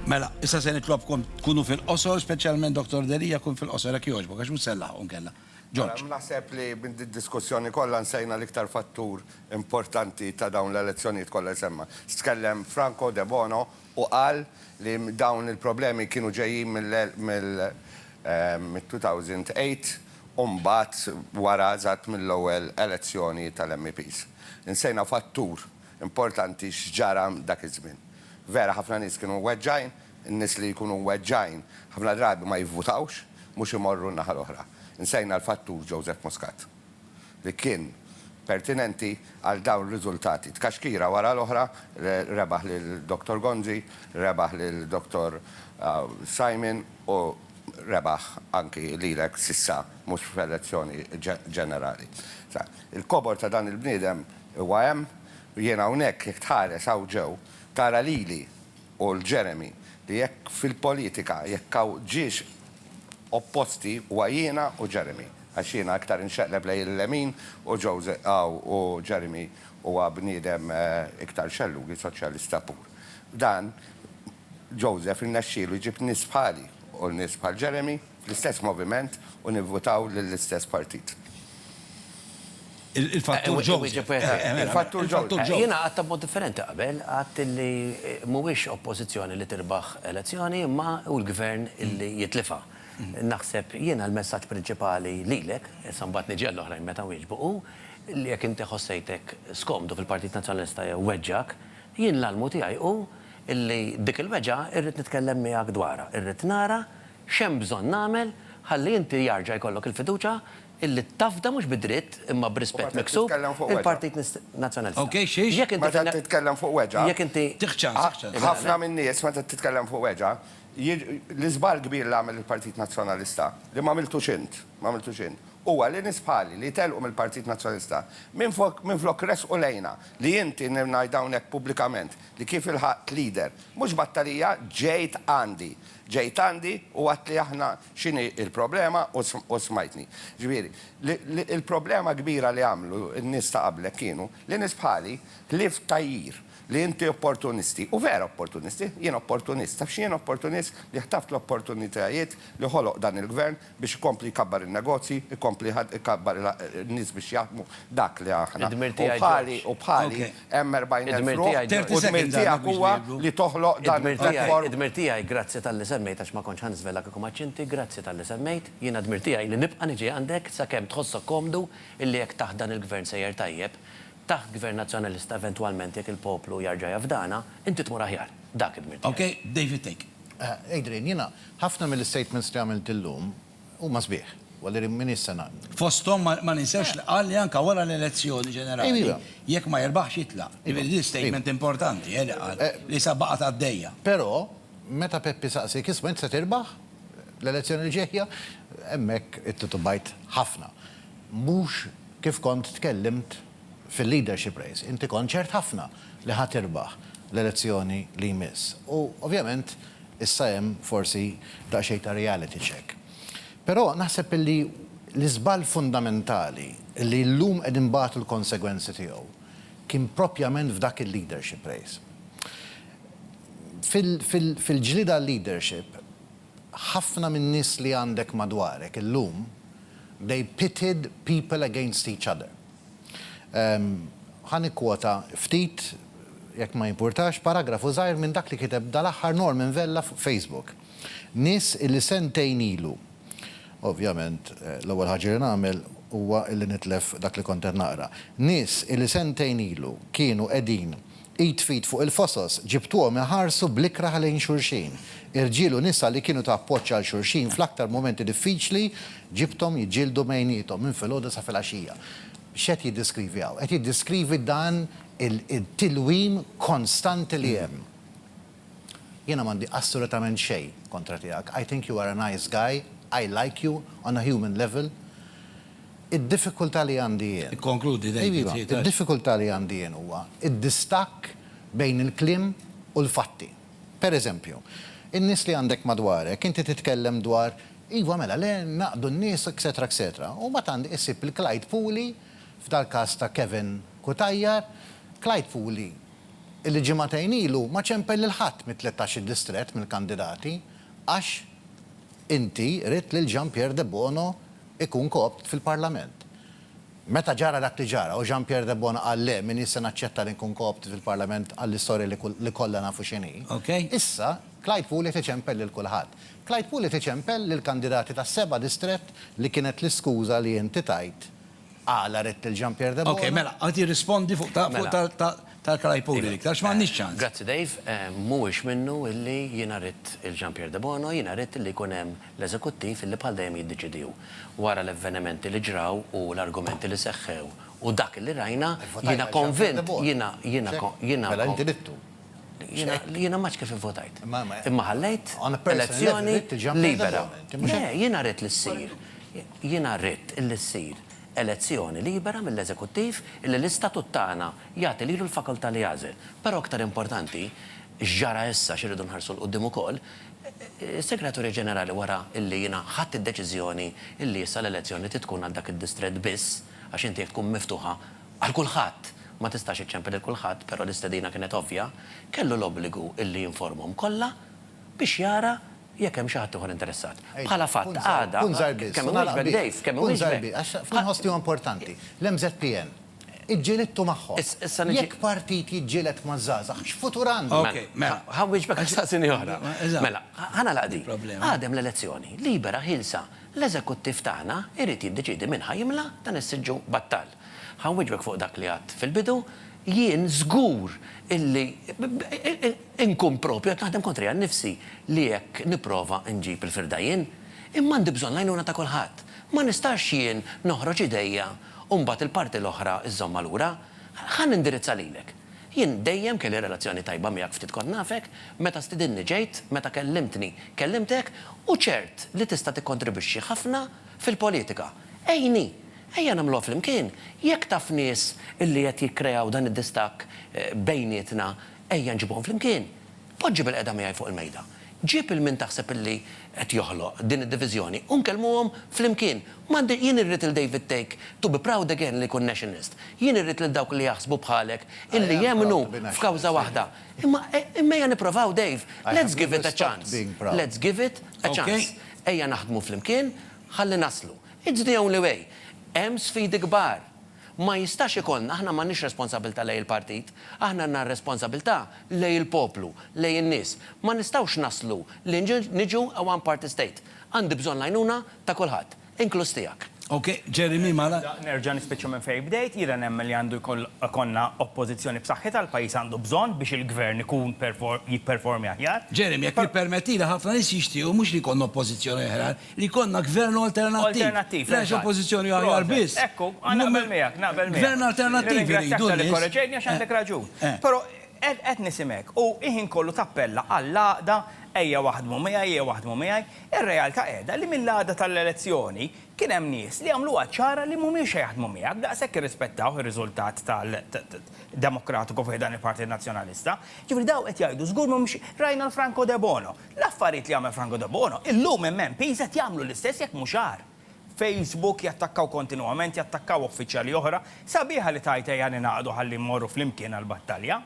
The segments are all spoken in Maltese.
Mela, issa se nitlobkom tkunu fil-qosor, speċjalment Dottor Delia, kun fil-qosor jekk jogħġbok għax mhux se nlaħħqu nkella. George. Naħseb li minn did-diskussjoni kollha nsejna l-iktar fattur importanti ta' dawn l-elezzjonijiet kollha li semma. Tkellem Franco Debono u qal li dawn il-problemi kienu ġejjin mill-2008 u mbagħad wara eżatt mill-ewwel elezzjoni tal-MEPs. Insejna fattur Importanti x'ġara dak iż-żmien. Vera ħafna nies kienu mweġġgħin, in-nies li jkunu mweġġgħin ħafna drabi ma jivvutawx, mhux imorru n-naħa l-oħra. Insejna l-fattur Joseph Muscat li kien pertinenti għal dawn ir-riżultati. Tkaxkira wara l-oħra, rebaħ lil Dottor Gonzi, rebaħ lil Dottor Simon u rebaħ anki lilek s'issa mhux f'elezzjoni ġenerali. Il-kobor ta' dan il-bniedem Huwa hemm, u jien hawnhekk, jekk tħares hawn ġew, tara lili u 'l Jeremy, li jekk fil-politika, jekk hawn ġiex opposti, huwa jiena u Jeremy, għax jiena iktar inxeqleb lejn il-lemin u Jose hawn u Jeremy huwa bniedem iktar xellugħi, soċjalista pur. Dan, Joseph irnexxielu jġib nies bħali u nies bħal Jeremy. fl-istess moviment u nivvutaw lill-istess partit. Il-fattur ġewż. Il-fattur ġewż. Jiena għadtha b'mod differenti qabel, għadt li mhuwiex oppożizzjoni li tirbaħ elezzjoni imma hu l-Gvern li jitlifha. Naħseb jiena l-messaġġ prinċipali lilek, issa mbagħad niġi għall-oħrajn meta nwieġbu, hu li jekk inti ħossejtek skomdu fil-Partit Nazzjonalista jew weġġgħek, jien l-almu tiegħi hu li dik il-weġgħa rrid nitkellem miegħek dwarha, irrid nara X'hemm bżonn nagħmel ħalli inti jarġa' jkollok il-fiduċja illi tafda mhux bi dritt imma b'rispett miksub il-Partit Nazzjonalista? Jekk inti fil-. Meta titkellem fuq weġgħa. Jekk inti. Tieħ ċans, tieħ ċans. Ħafna min-nies meta titkellem fuq weġgħa, l-iżball kbir li għamel il-Partit Nazzjonalista, li m'għamiltux int, m'għamiltux int, huwa li nies bħali li telqu mill-Partit Nazzjonalista, minflok ressqu lejna li inti, ngħid hawnhekk pubblikament, li kif ilħaqt leader, mhux battalija, ġejt għandi. Ġejt għandi u għedtli aħna x'inhi l-problema u smajtni. Ġifieri, il-problema kbira li għamlu n-nies ta' qablek kienu li nies bħali, ħlief tgħajjir li inti opportunisti, u vera opportunisti, jien opportunist, taf x'jien opportunist, li ħtaft l-opportunitajiet li ħoloq dan il-Gvern biex ikompli jkabbar in-negozji, ikompli ikabbar in-nies biex jaħdmu dak li aħna. U bħali, u bħali, hemm 40,000 ruħ, u d-dmir tiegħek huwa li toħloq dan il-platform. Id-dmir tiegħi, grazzi talli semmejt għax ma kontx ħa niżvela kieku ma għadx inti, grazzi talli semmejt, jiena d-dmir tiegħi li nibqa' niġi għandek sakemm tħossok komdu illi jekk taħt dan il-Gvern sejjer tajjeb, taħt Gvern Nazzjonalista eventwalment jekk il-poplu jarġa' jafdana, inti tmur aħjar. Dak id-dmir tiegħi. Ok, David take. Adrian, jiena ħafna mill-istatements li għamilt illum huma sbieħ. Walleri m'iniex se ngħaqdu. Fosthom ma ninsewx li qal li anke wara l-elezzjoni ġenerali jekk ma jirbaħx jitlaq. Jiġifieri din statement importanti eh li qal, li issa baqgħet għaddejja. Però meta Peppi saqsiek isma' int se tirbaħ l-elezzjoni li ġejja? Hemmhekk ittitubajt ħafna. Mhux kif kont tkellimt fil-leadership race, inti kont ċert ħafna li ħa tirbaħ l-elezzjoni li jmiss. U ovvjament issa hemm forsi daqsxejn ta' reality check. Però naħseb illi l-iżball fundamentali li llum qed inbatu l-konsegwenzi tiegħu kien propjament f'dak il-leadership race. Fil-ġlieda għal-leadership, Ħafna min-nies li għandek madwarek illum they pitted people against each other. Ħa nikkwota ftit, jekk ma jimpurtax, paragrafu żgħir minn dak li kiteb dal-aħħar Norman Vella fuq Facebook. Nies illi sentejn ilu, ovvjament l-ewwel ħaġa li nagħmel huwa illi nitlef dak li kont qed naqra. Nies illi sentejn ilu kienu qegħdin Id f'id fuq il-fosos, ġibtuhom iħarsu bl-ikrah lejn xulxin. Irġiel u nisa li kienu ta' appoġġ għal xulxin fl-aktar mumenti diffiċli, ġibthom jiġġieldu bejniethom minn filgħodu sa filgħaxija. X'qed jiddeskrivi hawn? Qed jiddeskrivi dan it-tilwim konstanti li hemm. Jiena m'għandi assolutament xejn kontra tiegħek, I think you are a nice guy, I like you on a human level, id-diffikultà li għandi jien. Ikkonkludi David, tgħid għax. Id-diffikultà li għandi jien huwa d-distakk bejn il-kliem u l-fatti. Per eżempju, in-nies li għandek madwarek, inti titkellem dwar iva mela le ngħaqdu n-nies etcetera etcetera u mbagħad għandek issib il-Clyde Puli, f'dal-każ ta' Kevin Cutajar, Clyde Puli, li ġimagħtejn ilu ma ċempel lil ħadd mit-tlettax-il distrett mill-kandidati għax inti ridt lil Jean Pierre Debono jkun co-opt fil-Parlament. Meta ġara dak li ġara u Jean Pierre Debono qal le minix se naċċetta li nkun co-opted fil-Parlament għall-istorja li kollha nafu x'inhi, issa Clyde Puli qed iċempel lil kulħadd. Clyde Puli qed iċempel lill-kandidati tas-seba' distrett li kienet l-iskuża li inti tajt Għala ridt lil Jean Pierre Debono? Ok, mela, qed jirrispondi fuq ta' fuq ta' ta' tal-Kalajpuri l-iktar, għax m'għandniex ċans. Grazzi Dave, mhuwiex minnu illi jiena ridt il Jean Pierre Debono, jiena ridt illi jkun hemm l-eżekuttiv illi bħal dejjem jiddeċidi hu. Wara l-evvenimenti li ġraw u l-argumenti li seħħew u dak illi rajna, jiena konvint, jiena, jiena, jiena. Mela inti ridtu? Jiena, jiena m'għadx kif ivvotajt. Imma ħallejt elezzjoni libera. Le, jiena ridt li ssir. Jiena ridt illi ssir elezzjoni libera mill-Eżekuttiv illi l-Istatut tagħna jagħti lilu l-fakultà li jagħżel. Però aktar importanti, x'ġara issa, xi rridu nħarsu 'l quddiem ukoll, is-Segretarju Ġenerali wara illi jiena ħadt id-deċiżjoni illi issa l-elezzjoni trid tkun għal dak id-distrett biss, għax inti jekk tkun miftuħa għal kulħadd ma tistax iċċempel lil kulħadd, però l-istedina kienet ovvja, kellu l-obbligu illi jinformhom kollha biex jara jekk hemm xi ħadd ieħor interessat. Bħala fatt, għada, kemm iwieġbek Dave, kemm iwieġbek. Għax f'din inħoss li huwa importanti. L-MZPN, iġġilidtu magħhom. Jekk partit jiġġieled maż-żgħażagħ, x'futur għandu? Mela, ħa nwieġbek għax staqsini oħra. Mela, ħa nagħlaq din. Għad hemm l-elezzjoni, libera, ħielsa. L-eżekuttiv tagħna jrid jiddeċiedi min ħa jimla' dan is-siġġu battal. Ħa nwieġbek fuq dak li għidt fil-bidu, jien żgur illi inkun proprju qed naħdem kontrija nnifsi li hekk nipprova nġib il-firda jien. Imma għandi bżonn l-għajnuna ta' kulħadd. Ma nistax jien noħroġ idejja u mbagħad il-parti l-oħra żżommha lura. Ħa nindirizza lilek. Jien dejjem kelli relazzjoni tajba miegħek ftit kont nafek, meta stidinni ġejt, meta kellimtni kellimtek u ċert li tista' tikkontribwixxi ħafna fil-politika. Għinni! Ejja nagħmluha flimkien. Jekk taf nies li qed jikkreaw dan id-distakk bejnietna, ejja nġibuhom flimkien. Poġġi bilqiegħda miegħi fuq il-mejda. Ġib 'il min taħseb li qed joħloq din id-diviżjoni u nkellmuhom flimkien. M'għandi, jien irrid 'il David Thake to be proud again li jkun Nationalist. Jien irrid lil dawk li jaħsbu bħalek illi jemmnu f'kawża waħda. Imma, imma ejja nipprovaw Dave. Let's give it a chance. Let's give it a chance. Ejja naħdmu flimkien ħalli naslu. It's the only way. Hemm sfidi kbar. Ma jistax ikollna, aħna m'għandniex responsabilità lejn il-partit, aħna għandna r-responsabilità lejn il-poplu, lejn in-nies. Ma nistgħux naslu li niġu a one party state. Għandi bżonn l-għajnuna ta' kulħadd, inkluż tiegħek. Ok, Jeremy mala. Nerġa' nispiċċa minn fejn bdejt, jiena nemmen li għandu jkollna oppożizzjoni b'saħħitha, l-pajjiż għandu bżonn biex il-gvern ikun jipperformi aħjar. Jeremy, jekk tippermettili, ħafna nies jixtiequ mhux li jkollna oppożizzjoni aħjar, Li jkollna Gvern alternattiv. Alternattiv. Mhux Oppożizzjoni aħjar biss. Ekku, naqbel miegħek, naqbel miegħek. Gvern alternattiv irridu n-nies. Nirringrazzjak talli kkoreġejtni għax għandek raġun. Però qed nisimgħek u ħin kollu tappella għall-għaqda, ejja waħdmu miegħi, ejja waħdmu miegħi. Ir-realtà qiegħda li mill-għada tal-elezzjoni kien hemm nies li għamluha ċara li mhumiex se jaħdmu miegħek, daqshekk irrispettawh ir-riżultat tal-demokratiku fi ħdan il-Partit Nazzjonalista. Jiġifieri dawn qed jgħidu żgur mhumiex, rajna l-Franco Debono. L-affarijiet li jagħmel Franco Debono illum MMPs qed jagħmlu l-istess jekk mhux agħar. Facebook jattakkaw kontinwament, jattakkaw uffiċjali oħra, sabiħa li tgħid ejja ningħaqdu ħalli mmorru flimkien għall-battalja.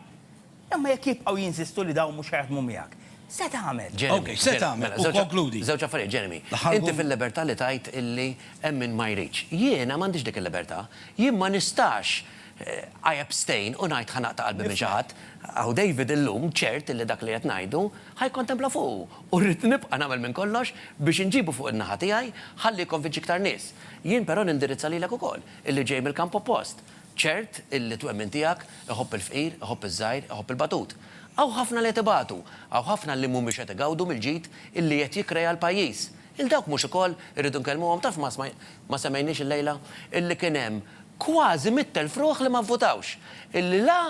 Imma jekk jibqgħu jinsistu li dawn mhux ħa jaħdmu miegħek, se tagħmel? Jeremy, Jeremy, żewġ affarijiet, Jeremy. Inti fil-libertà li tgħid illi hemm min ma jridx. Jiena m'għandix dik il-libertà. Jien ma nistax I abstain u ngħid ħa naqta' qalbi minn xi ħadd. Hawn David illum ċert illi dak li qed ngħidu Ħa jikkontempla fuqu u rrid nibqa' nagħmel minn kollox biex inġibu fuq in-naħa tiegħi ħalli jikkonvinċi iktar nies. Jien però nindirizza lilek ukoll, illi ġej mill-kamp oppost, ċert illi t-twemmin tiegħek iħobb il-fqir, iħobb iż-żgħir, iħobb il-batut. Hawn ħafna li qed ibatu, hawn ħafna li mhumiex qed igawdu mill-ġid illi qed jikkrea l-pajjiż. Lil dawk mhux ukoll irridu nkellmuhom? Taf ma semmejniex illejla illi kien hemm kważi mitt elf ruħ li ma vvutawx, illi la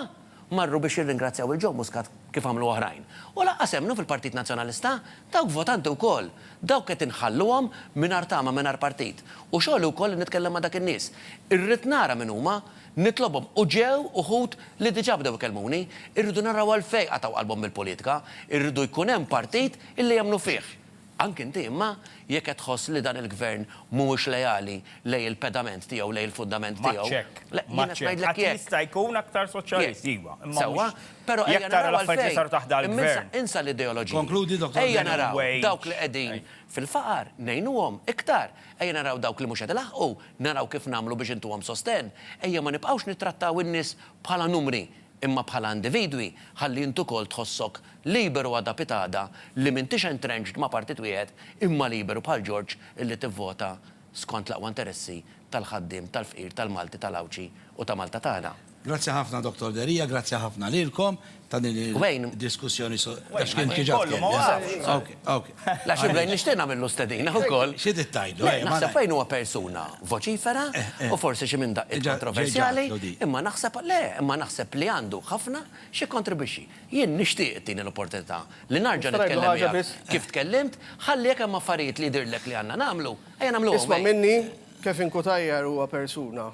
marru biex jirringrazzjaw lil Joe Muscat kif għamlu oħrajn. U lanqas emmnu fil-Partit Nazzjonalista dawk votanti wkoll. Dawk qed inħalluhom mingħajr tama, mingħajr partit. U xogħli wkoll li nitkellem ma' dak in-nies. Irrid nara min huma, nitlobhom u ġew uħud li diġà bdew ikellmuni. Irridu naraw għalfejn qatgħu qalbhom mill-politika. Irridu jkun hemm partit illi jemmnu fih. Anki inti imma, jekk qed tħoss li dan il-Gvern mhuwiex leali lejn il-pedament tiegħu, lejn il-fundament tiegħu. M'għadx hekk. Le, jiena qed ngħidlek jekk. Qatt jista' jkun aktar soċjalist, iva, imma mhux. Sewwa, però ejja naraw għalfejn. Imma insa l-ideoloġiji. Konkludi, Dottor Berlinguer. Ejja naraw dawk li qegħdin fil-faqar, ngħinuhom iktar. Ejja naraw dawk li mhux qed ilaħħqu, naraw kif nagħmlu biex intuhom sostenn. Ejja ma nibqgħux nittrattaw in-nies bħala numri, imma bħala individwi ħalli int ukoll tħossok liberu għada pitgħada li m'intix entrenched ma' partit wieħed imma liberu bħal Ġorġ illi tivvota skont l-aqwa interessi tal-ħaddiem, tal-fqir, tal-Malti, tal-Għawdxi u ta' Malta tagħna. Grazzi ħafna Dottor Deria, grazzi ħafna lilkom ta' din il-diskussjoni. Wait, ma' ħin kollu, ma' waqafx. La xi Brain nixtieq nagħmillu stedina wkoll. Xi trid tgħidlu? Le, naħseb Brain huwa persuna voċifera u forsi xi minn daqqiet kontroversjali, imma naħseb, le, imma naħseb li għandu ħafna x'jikkontribwixxi. Jien nixtieq ittini l-opportunità li narġa' nitkellem miegħek kif tkellimt, ħalli jekk hemm affarijiet li jidhirlek li għandna nagħmlu, ejja nagħmluhom. Isma' minni, Kevin Cutajar huwa persuna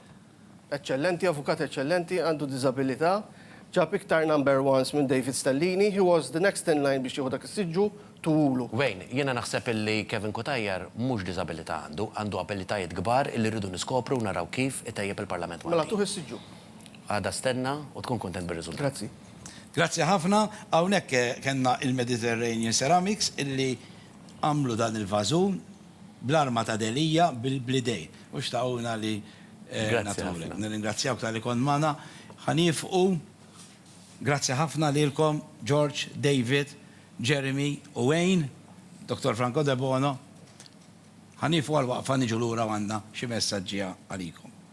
Eċċellenti, avukat eċċellenti, għandu diżabilità, ġab iktar number ones minn David Stellini, he was the next in line biex jieħu dak is-siġġu, tuwulu. Wayne, jiena naħseb illi Kevin Cutajar mhux diżabilità għandu, għandu abilitajiet kbar illi rridu niskopru u naraw kif itejjeb il-Parlament Malti. Mela tuh is-siġġu. Għada stenna u tkun kuntent bir-riżultat. Grazzi. Grazzi ħafna, hawnhekk kellna il-Mediterranean Ceramics illi għamlu dan il-vażun. Bl-arma ta' Delia, bl-idej. Mhux tagħuna li nagħtuhulek. Nirringrazzjawk talli kont magħna. Ħa niefqu. Grazzi ħafna lilkom, George, David, Jeremy u Wayne, Dottor Franco Debono. Ħa niefqu għal waqfa niġu lura u għandna xi messaġġi għalikom.